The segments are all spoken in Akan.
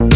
Subscribe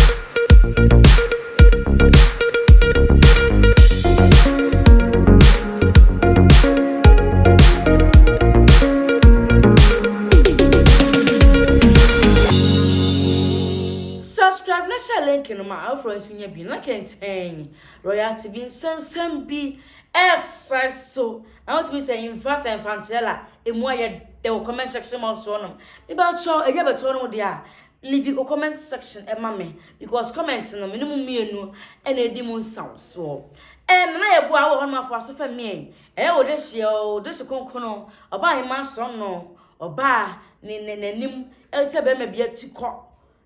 na hyɛ link no ma afoforɔ nso nya bi na kɛntɛn royalty bi nsɛnsɛm bi ɛsan so na wotumi sɛ infact ɛnfanteɛ la emu ayɛ dɛ wɔ comment section box hɔ nom mebakyɛw ɛnyɛ bɛtɔ nom deɛ a Leave wo comment section ma me because comment no me ne mo mmienu na edi mu nsawosoɔ. Ɛɛ Nana Yɛboa a wowɔ hɔ no ma foa so fa mmie. Ɛyɛ wo dehyeɛ o, wo dehye konkono, ɔbaa ahemaa sorɔno, ɔbaa ne ne n'anim ɛte sɛ bɛrima bi ati kɔ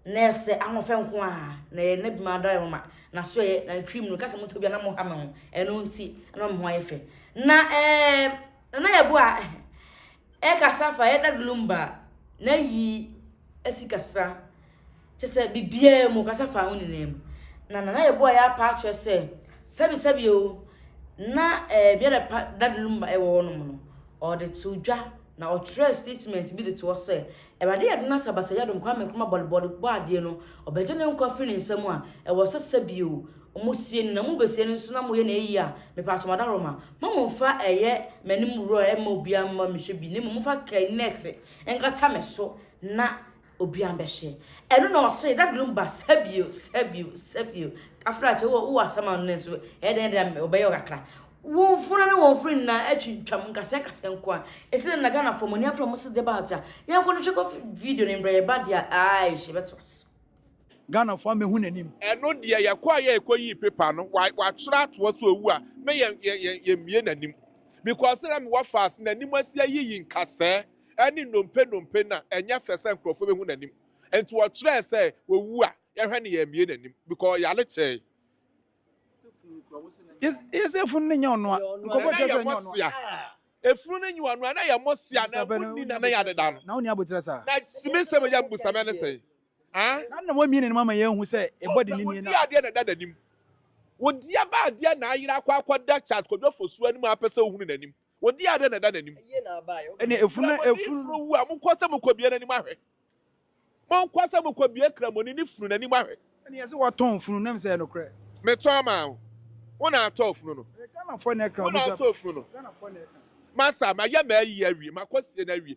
na ɛsɛ ahoɔfɛ nko a na ɛyɛ na bima adare mama na so ɛyɛ na cream no kasa mo tɔ bi na mo ha me ho ɛno nti na mo ho ayɛ fɛ na ɛɛ Nana yɛbo a ɛkasa fa yɛ dad lumba na yi asi kasa kyɛ sɛ bibiaa mu kasa fa ho nyinaa mu na nana yɛbo a yɛ apa akyerɛ sɛ sɛbi sɛbi o na ɛɛ yɛ dɛ pa dad lumba ɛwɔ hɔ nom no ɔde to dwa na ɔtwerɛ statement bi de to hɔ sɛ ɛwurade yɛ dona sɛ basa yɛ dom kwa me nkroma bɔlebɔle bɔ adeɛ no ɔbɛgye ne nkwa firi ne nsa mu a ɛwɔ sɛ sɛbi o Ɔmo sie no na mo bɛ sie no nso na mo yɛ no ayie a mepatwɔ madaroma mma mo nfa ɛyɛ m'anim wura mma obiara mma me hwɛ bi na mmom mo fa kɛ nɛte nkata me so na obiara mbɛ hwɛ ɛno na ɔse dadrom ba sɛbio sɛbio sɛbio kafrakyɛ wo wo asɛm ano no nso ɛyɛ dɛn dɛn a ɔbɛyɛ ɔkakra wɔn fona ne wɔn firi nyinaa atwintwam nkasɛ nkasɛ nko a ɛsɛ dɛ na Ghana fɔ mo ani apra mo se deba agya yɛn kɔ no twɛ kɔ video ne mbrɛ yɛ ba deɛ aayɛ hyɛ bɛto aso Ghana foɔ amɛhu n'anim. Ɛno deɛ yɛkɔ a yɛ ɛkɔ yii paper no wa watwerɛ atoɔ so owu a me yɛ yɛ yɛ yɛ mmie n'anim because na me wɔ fast n'anim asi ayiyi nkasɛɛ ɛne nnompe nnompe na ɛnyɛ fɛ sɛ nkorɔfoɔ bɛhu n'anim nti wɔtwerɛɛ sɛ owu a yɛhwɛ no yɛ mmie n'anim because ɔyare kyɛɛ Yes, yes, efunu ne nyɛ ɔnoa. Nkɔfo nana kyerɛ yɛ sɛ nyɛ ɔnoa. mɔsia efunu ne nyi ɔno a na yɛ mɔsia na Busa bɛ ɛmu no, ni wonya nana yɛ abotire adeda saa. no Na wo ni abotire saa. na simi sɛ mo yɛ mbusa mɛ ne sɛ Na na wɔamia n'anim ama yɛahu sɛ ɛbɔ dennen nie no a. Ɔsɛ wɔdi adeɛ na ɛda n'anim. Wɔdi aba adeɛ na ayera akɔ akɔda Charles Kwadwo Fosu anim a apɛ sɛ ɔhunu n'anim. Wɔdi adeɛ na ɛda n'anim. Ɛnna efunu na efunu. Kramoni funu wu a, monkɔ sɛ mokɔbue n'anim ahwɛ. Monkɔ sɛ mokɔbue Kramoni ne funu n'anim ahwɛ. Ɛnna yɛse wɔtɔn funu no, na ɛmfa sɛ ɛyɛ nokorɛ. Metɔn maa wo. Wo na atɔɔ funu no. Ɛyɛ Ghanafoɔ na ɛka. Wo na atɔɔ funu no. Ghanafoɔ na ɛka. Masa, mayɛ m'ayie awie, makɔsie no awie.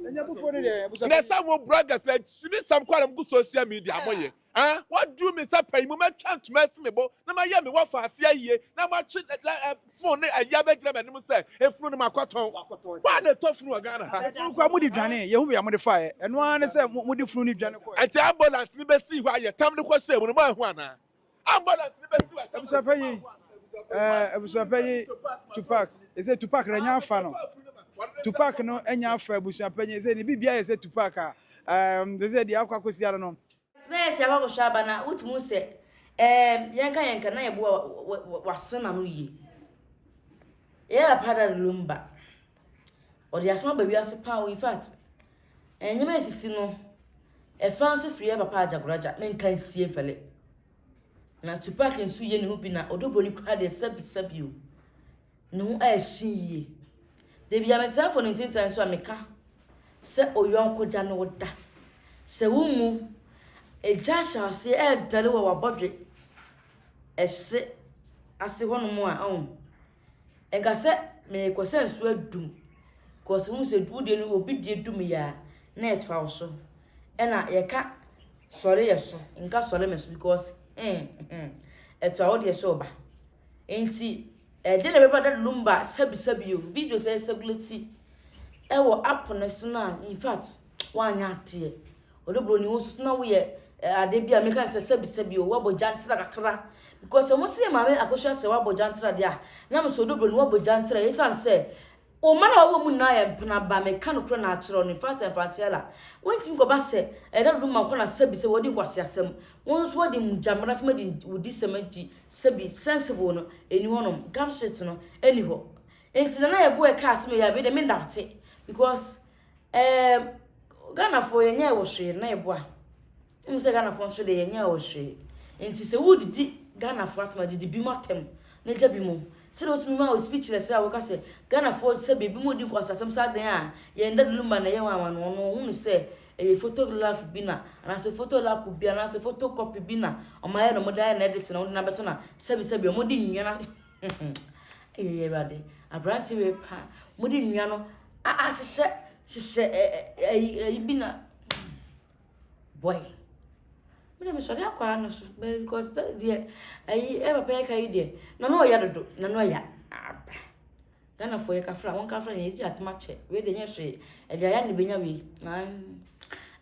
na sɛ mo bloggers na sinisɛm kɔ na mo gu social media mo yɛ ah wadu mi nsa pɛn mu mɛtwa ntoma asi mi bo na mayɛ mi wafa ase ayie na matwe fon ne ayia bɛgyina mɛ anim sɛ efunu no ma kɔtɔn waa na ɛtɔ funu wɔ ghana ha efunu kura mo de dwane yɛ ho bia mo de fa yɛ ɛno ara ne sɛ mo de funu ne dwane kɔ ɛte ambulance ne bɛsi hɔ ayɛ tam ne kɔ hyɛ mu no mo ahu anaa. Abusuapɛ yi, ɛɛ eh, abusuapɛ yi, Tupac, ɛsɛ Tupac na nya afa no. Tupac no anya afa abusuapɛ yi, ɛsɛ ne bibia yɛ sɛ Tupac a, ɛɛm, ɛsɛ deɛ akɔ akɔsia no no. Sɛ si akɔ akɔhyɛ aba na wotumi hu sɛ ɛɛm yɛnka yɛnka na yɛbo wa- wa- wa- wasen n'ano yie. Yɛyɛ papa da lumba. Ɔde asɛm aba wiase paa o. In fact, nneɛma a esisi no, ɛfa nso firi yɛ papa Agyagoragya, menka nsie mfɛle. Na Tupac nso yɛ ne ho bi na ɔdɔ buroni koraa deɛ sɛbi sɛbi o. Ne ho a ɛhye yie. Da bi a metrɛfo ne ntintan so a meka sɛ oyɔnko gya ne wo da. Sɛ wo mu egya hyɛ aseɛ ɛredɛre wɔ w'abɔdwe ɛse ase hɔnom a, ɔn. Nka sɛ merekɔ sɛ nsuo adum because wohu sɛ wo deɛ no obi deɛ dum yɛ a na ɛtoa wo so. Ɛna yɛka sɔre yɛ so nka sɔre me so because ɛtoa wo deɛ so ba. Nti ɛdeɛ na ɛbɛba da lumba sabisabi o videos ɛsɛgulati ɛwɔ app no so no a in fact woanyɛ adeɛ. Ɔdɔ broni wo so na wo yɛ ade bi a meka ne sɛ sɛbi sɛbi o wabɔ gya ntra kakra because sɛ mo se yɛ maame akosua sɛ wabɔ gya ntra de a na me so ɔdɔ broni wabɔ gya ntra ɛsan sɛ o mma na wabɔ mu nyinaa yɛ mpena ba meka no korɛ na akyerɛ no in fact and fantiella wontimi kɔba sɛ ɛda dodo ma nkɔ na sɛbi sɛ wɔde nkwasi asɛm wo nso wɔde mu gya mmara sɛm adi wodi sɛm adi sɛbi sensible no ɛni hɔ nom gap shit no ɛni hɔ nti na na yɛ bo ɛka asɛm yɛ a me de me ndawote because Ɛɛ Ghanafoɔ yɛnyɛɛ wo hwee na ɛboa. Wonim sɛ Ghanafoɔ nso deɛ yɛnyɛɛ wo hwee. Nti sɛ wodidi Ghanafoɔ atam a, didi binom atam na gya binom. Sɛdeɛ wo sɛ memaa wo speechless a woka sɛ Ghanafoɔ sɛ binom redi nkwaseasɛm saa dɛn a, yɛn daduluma na ɛyɛ wɔn anwanwa no, wɔhunu sɛ ɛyɛ photograph bi na anaasɛ photolap bi anaasɛ photocopy bi na wɔayɛ na wɔde ayɛ na ɛde te na wɔde no abɛto na sɛbisɛbi wɔde nnua na Ayii Awurade, aberante wei paa. Wɔde nnua no ahyehyɛ hyehyɛ ɛ ɛ ayi ayi bi na boy. Me deɛ mesɔre akɔ ano so bɛyɛ because dɛ deɛ ayi ɛ papa yi ka yi deɛ n'ano ɔya dodo n'ano ɔya aba. Ghana foɔ yɛ kafra wɔn kafra yɛn yɛgye atom akyɛ wei de nyɛ hwee ɛde ayɛ ne benya wei nan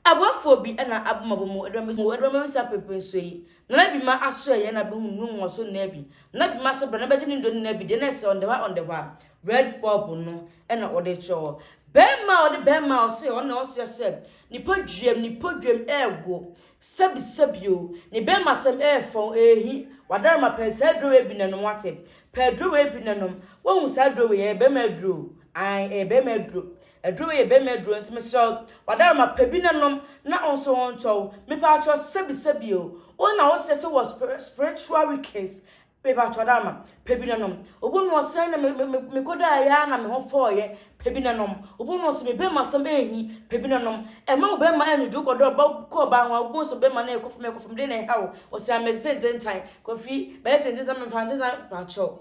aboafoɔ bi ɛna abomabɔ mu ɛdɔm mu ɛdɔm mu nsa pepe nso yi nana bi ma aso ɛyɛ na bɛhu nnu wɔn so nna bi nana bi ma se bra na bɛgye ne ndo nna bi deɛ na ɛsɛ ɔndɛwa ɔndɛwa red bob no ɛna ɔde kyerɛ bɛrima ɔde bɛrima ɔse ɔna ɔseɛ sɛ nipa dwuam nipa dwuam ɛɛgo sɛbi sɛbi o ne bɛrima sɛm ɛɛfɔn ɛɛhi wadarama pɛn saa aduro wei bi na nom wate Pɛ aduro wei bi na nom. Woahu saa aduro wei yi? Ɛyɛ barima aduro o. Aane, ɛyɛ barima aduro. Aduro wei yɛ barima aduro nti mesrɛ wo, w'adaramma, pɛ bi na nom na wo nso wo ntɔ wo. Mepatwɔ, sɛbi sɛbi o. Wo na wosɛ sɛ wowɔ spir spiritual weakness. Mepatwɔ ɔdaramma, pɛ bi na nom. Obu no ɔsɛn na me me me mekɔdaeɛ ara na me ho fɔeɛ. Pebinenom, wobɔɔ no sɛ me bɛma asɛm ɛyɛ hi, pebinenom, ɛma wo bɛma ɛyɛ nwodwo kɔdɔ ɔba kɔ ɔbaa ho a wobɔɔ sɛ bɛma no ɛyɛ kɔfam ɛyɛ kɔfam dɛn na ɛha wo, ɔsɛ amɛ tententan, kɔfi, bɛyɛ tententan mɛmfa tententan pakyɛw.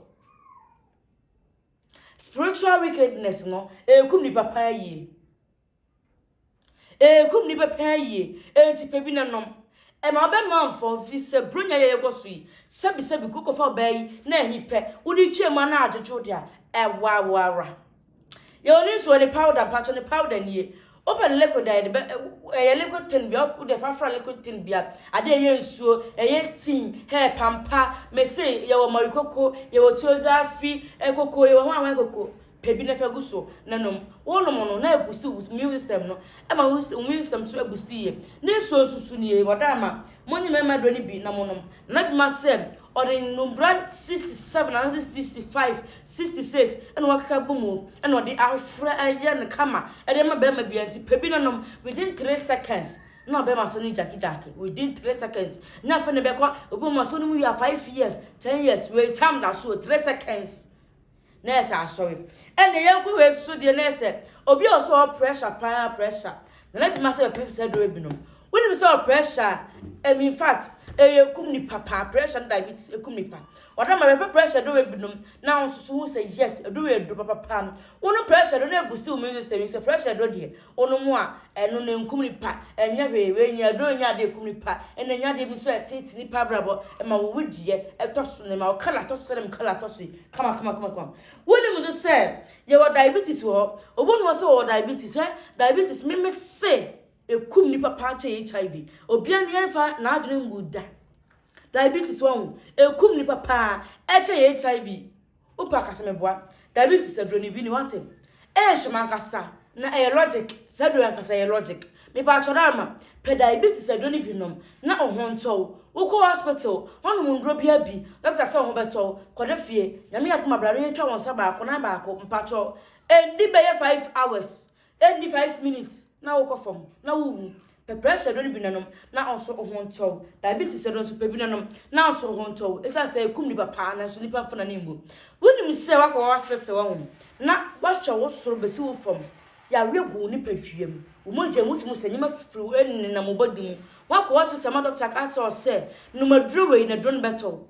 Spiritual wickedness no, ɛkum nipa paa yie. Ekum nnipa paa yie, enti pɛ bi na nom. Ɛma wobɛma mfɔ mfi sɛ Buronya yɛ yɛkɔ so yi, sɛbisɛbi kɔ kɔfa ɔbaa yi na ahi pɛ, wode twa mu a na adwodwo wo de a, ɛboa wo ara. Yɛwɔ ne nsuo ne powder, mpakyɛw ne powder nie. Wopɛ no liquid a yɛde bɛ, ɛyɛ liquid thing bia, wode fa fra liquid thing bia, adeɛ a ɛyɛ nsuo, ɛyɛ tea, hair pampa, mese yɛwɔ marikoko, yɛwɔ tiozaafi, ɛkoko, yɛwɔ hwan hwan koko. Pɛ bi na fa gu so na nom. Wonom no, na ɛbusti wo immune system no. Ɛma wo immune system nso ɛbusti yie. Ne nsuo nso su nie, wɔda ama. Monyi mmarima aduro no bi na monom. Na n'adwuma sɛ ɔde nnumbura sixty seven anaasɛ sixty five, sixty six ɛna wakeka gu mu ɛna ɔde afra ayɛ no kama ɛde ama barima biara nti pɛ bi na nom within three seconds na ɔbɛma so no gyakigyaki within three seconds na afei na ɛbɛkɔ obi ma so no mu yɛ five years ten years wei tam da so three seconds. na ɛsɛ asɔre ɛnna yɛn kɔ wei so deɛ na ɛsɛ obi a ɔsɔ pressure paa pressure na na dwuma sɛ bɛpɛ sɛ dɔrɔ binom wonim sɛ pressure ɛmi in fact ɛyɛ kum nipa paa pressure no diabetes ɛkum nipa ɔda ma bɛpɛ pressure dɔrɔ binom na wɔn nso so hu sɛ yes ɛdɔrɔ ɛdɔ papa paa wɔn pressure do na ɛbu si wɔn nso sɛ pressure do deɛ Wonom a, ɛno na enkum nnipa. Ɛnyɛ hwee. Wei nyɛ aduru, ɛnyɛ ade a ekum nnipa. Ɛna ɛnyɛ ade bi nso a ɛteetee nnipa abrabɔ. Ɛma wo wedeɛ tɔ so, na ɛma wo kala tɔ so sɛdeɛ me kala tɔ so yi, kamakamakama. Wonim nso sɛ yɛwɔ diabetes wɔ hɔ. Obi nim hɔ sɛ ɔwɔ diabetes? Hwɛ, diabetes, me mese ekum nnipa paa ara kyɛn HIV. Obiara nni ɛmfa n'adwene mmu da. Diabetes, wahu? Ekum nnipa paa ara kyɛn HIV. Wopɛ a ka sɛ meboa. Dabi nti sɛ duro no bi ni wate. Eeh hwɛ mankasa na ɛyɛ logic saa duro yi ankasa ɛyɛ logic mepaatwɔ Rama pɛ diabetes sɛ duro no bi nom na wo ho ntɔ wo wokɔ hospital woanom nduro bia bi doctor sɛ wo ho bɛtɔ wo kɔda fie Nyame yɛ adom a bra na yɛntwa wo nsa baako nan baako mpaatwɔ ɛndi bɛyɛ five hours Enni five minutes na wokɔ fam na wuwu. Pɛ pressure duro no bi na nom, nanso wo ho ntɔ wo. Diabetes duro nso, pɛ bi na nom, nanso wo ho ntɔ wo. Esiane sɛ ekum nnipa paa, nanso nnipa mfa n'ani mmu. Wunim sɛ woakɔ hospital hɔ na wɔahwɛ wo soro besi wo fam. Yareɛ gu wo nipaduam, wo mogya mu, wotumi sɛ nneɛma fifiri, wo ani nenam wo body mu. Woakɔ hospital ma doctor aka akyerɛ wo sɛ, Nom aduro wei na duro no bɛtɔ wo.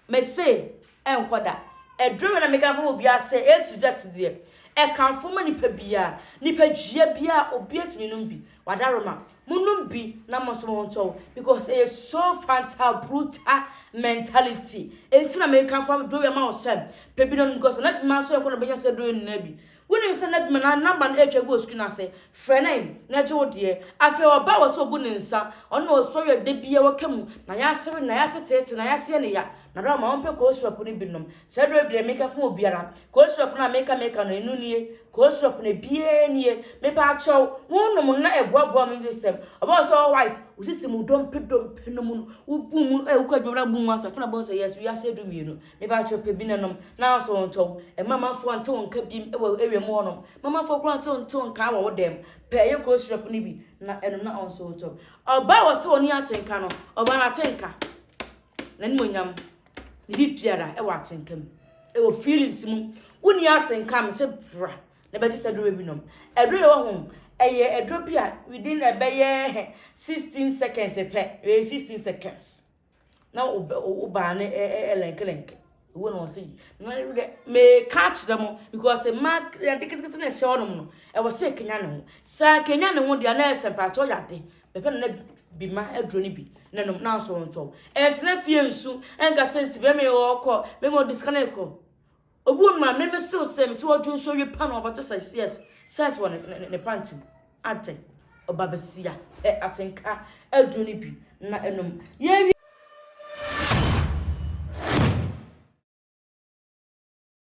Mese, ɛnkɔ da. Ɛduru bɛ na mekamfo wɔ biaa sɛ A to Z deɛ, ɛkamfo ma nipa biaa. Nipa dua biaa obia tumi nom bi. Wadaroma, monom bi na mo nso montɔ wo because ɛyɛ so fanta bruta mentality. Enti na mekamfo aduro yi ama wo sɛ, pɛ bi na nom because na bi mma nso ɛnkɔ na bɛnya saa aduro yi nyinaa bi. Wonim sɛ na Duma na namba no retwa agu wɔ sukuu no ase. Frɛ no ɛ, na ɛkyɛ wo deɛ. Afei ɔbaa wɔ sɛ ɔbu ne nsa. Ɔno na ɔsɔre a da biara ɔka mu. Na yɛase we, na yɛase teetee, na yɛase yɛ no ya. Na Rahma, wompɛ Koo Sirop no bi nom? Saa aduro yi deɛ meka fa obiara. Koo Sirop no a meka meka no, ɛno nie. Koo Sirop no, biara nie. Mepaakyɛw, wonom no na ɛboaboa immune system. Ɔbaa wɔ sɛ ɔwɔ white. Wo sisi mu dompe dompe no mu no, wobu mu ɛ, wokɔ adwuma no a wobu mu asa. Afei na ɔbɛhu sɛ yes, wiase adu mmienu. Me ba kyerɛ pɛ bi na nom, nanso ntɔ wo. Mamafoɔ nte wo nka bim wɔ ewiem hɔ nom. Mamafoɔ koraa nte wo nte wo nka wɔ wo dɛm. Pɛ yɛ kuro syrup no bi na ɛnom na ɔnso ntɔ. Ɔbaa wɔ sɛ ɔni atenka no, ɔbaa no atenka. N'animuonyam, ne bibiara ɛwɔ atenka mu. Ɛwɔ feelings mu. Wo ni atenka me sɛ bra na bɛgye sɛ duro bi nom. Ɛduro yɛ wɔ ho, ɛyɛ ɛduro bi a within ɛbɛyɛ 16 seconds pɛ, within 16 seconds. na wo baa no ɛlɛnkelɛnke wo na ɔse meka akyerɛ mo because mma yɛde ketekete na ɛhyɛ ɔnom no ɛwɔ sɛ kenya ne ho sɛ kenya ne ho deɛ na ɛsɛ mpakyɛ ɔyɛ ade bɛpɛ na bi ma aduro no bi na nom na nso ntɔ ɛntena fie nsu ɛnka sɛ nti bɛma ɔkɔ bɛma ɔde sika no kɔ Obi wɔ no ma meme sew sɛ mese ɔdwo nso ɔwie paa na wabɛto sɛ seɛs sɛɛt wɔ ne panty mu ate ɔba basia pɛ atenka aduro no bi na ɛnom yɛwie.